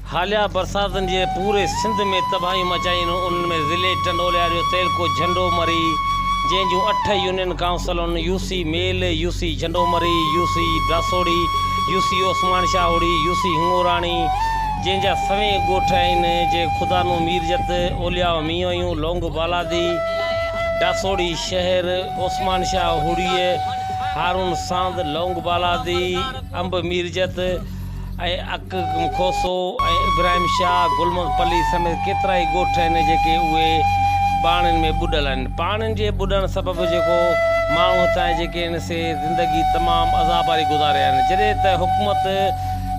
حاليه برساتن جي پوري سنڌ ۾ تباهيون مچايون هن انهن ۾ ضلعي ٽنڊوليار جو تعلقو جهنڊومري جنهن جون اٺ يونين ڪائونسلون يوسي ميل، UC Jhandomari, UC براسوڙي، UC Usman شاهوڙي، UC هڱوراڻي جنهن جا سوين ڳوٺ آهن جي خدانو ميرجت، اولياء مينهويون، لونگ بالادي، ڊاسوڙي شهر، عثمان شاهوڙيء، هارون ساند، لونگ بالادي، انب ميرجت، اڪ، کوسو ۽ ابراهيم شاهه، گل محمد پلي سميت ڪيترائي ڳوٺ آهن جيڪي اهي پاڻين ۾ ٻڏل آهن. پاڻين جي ٻڏڻ سبب جيڪو ماڻهو هتان جي جيڪي آهن سي زندگي تمام عذاب واري گذاري رهيا آهن جڏهن ته حڪومت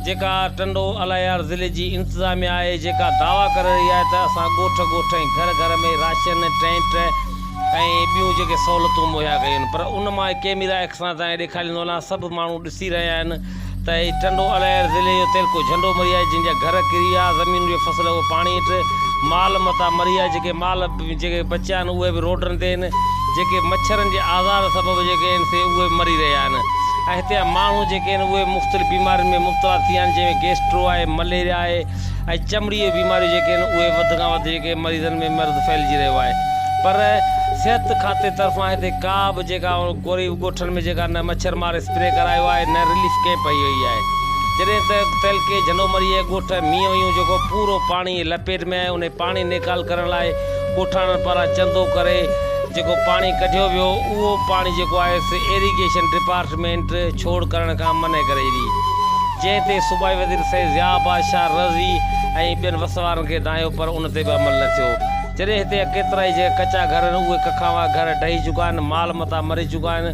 جيڪا ٽنڊو الهيار ضلعي جي انتظاميا آهي جيڪا دعويٰ ڪري رهي آهي ته اسان ڳوٺ ڳوٺ ۽ گهر گهر ۾ راشن، ٽينٽ ۽ ٻيون جيڪي سهولتون مهيا ڪيون آهن پر ان مان ڪيميرا ايڪسان تائين ڏيکاريندو وڃان سڀ ماڻهو ڏسي رهيا آهن ته اي ٽنڊو الائر ضلعي جو تيلڪو جهنڊو مري آهي جن جا گهر ڪري ويا زمينون جي فصل اهو پاڻي هيٺ مال متان مري ويا جيڪي مال جيڪي بچيا آهن اهي به روڊن تي آهن جيڪي مڇرن جي آزار سبب جيڪي آهن سي اهي مري رهيا آهن ۽ هتي جا ماڻهو جيڪي آهن اهي مختلف بيمارين ۾ مبتلا ٿي ويا آهن جنهن ۾ گيسٽرو آهي مليريا آهي ۽ چمڙي جي بيماريون جيڪي آهن اهي وڌ کان وڌ جيڪي مريضن ۾ مرض ڦهلجي رهيو آهي پر صحت کاتي طرفان هتي ڪا به جيڪا ڪوري ڳوٺن ۾ جيڪا نه مڇر مار اسپري ڪرايو آهي نه رليف ڪئمپ هئي هئي آهي جڏهن ته تعلقي جهنومريء ڳوٺ مينهويون جيڪو پورو پاڻي جي لپيٽ ۾ آهي انهي پاڻي نيڪال ڪرڻ لاء ڳوٺاڻن پاران چندو ڪري جيڪو پاڻي ڪڍيو ويو اهو پاڻي جيڪو آهي سي ايريگيشن ڊپارٽمينٽ ڇوڙ ڪرڻ کان منع ڪري ڏني جنهن تي صوبائي وزير سيد ضياء بادشاهه رضوي ۽ ٻين وس وارن کي دانهيو پر ان تي به عمل نه ٿيو جڏهن هتي ڪيترائي جيڪي ڪچا گهر آهن اهي ڪکاوا گهر ڊهي چڪا آهن مال متا مري چڪا آهن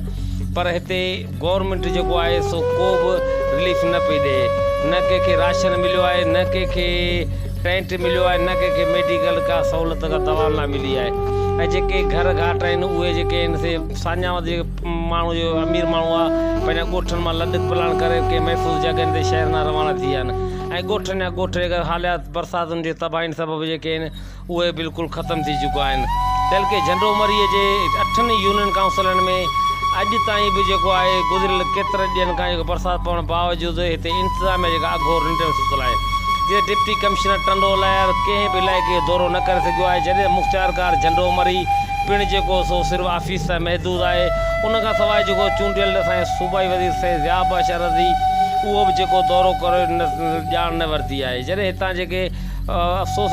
پر هتي گورنمينٽ جيڪو آهي سو ڪو به رليف نه پئي ڏئي نه ڪنهن کي راشن مليو آهي نه ڪنهن کي ٽينٽ مليو آهي نه ڪنهن کي ميڊيڪل ڪا سهولت ڪا دوا نه ملي آهي ۽ جيڪي گهر گهاٽ آهن اهي جيڪي آهن سي ساڃاهه وڌيڪ ماڻهو جو امير ماڻهو آهي پنهنجا ڳوٺن مان لڏ پلاڻ ڪري ڪنهن محفوظ جڳهين تي شهر نا روانا ٿي ويا آهن ۽ ڳوٺن جا ڳوٺ جيڪا حاليات برساتن جي تباهين سبب جيڪي آهن اهي بلڪل ختم ٿي چڪا آهن تل ڪي جهنڊو مري جي اٺن يونين ڪائونسلن ۾ اڄ تائين به جيڪو آهي گذريل ڪيترن ڏينهن کان جيڪو برسات پوڻ باوجود هتي انتظاميا جيڪا اگهور ننڊ ۾ ستل آهي جتي ڊپٽي ڪمشنر ٽنڊو لهر ڪنهن به علائقي جو دورو نه ڪري سگهيو آهي جڏهن مختيارڪار جهنڊو مري پڻ جيڪو سو صرف آفيس تائين محدود آهي ان کان سواء جيڪو چونڊيل اسان جي صوبائي وزير سيد ضياء باشا رضي اهو به جيڪو دورو ڪري ڄاڻ نه ورتي آهي جڏهن هتان جيڪي افسوس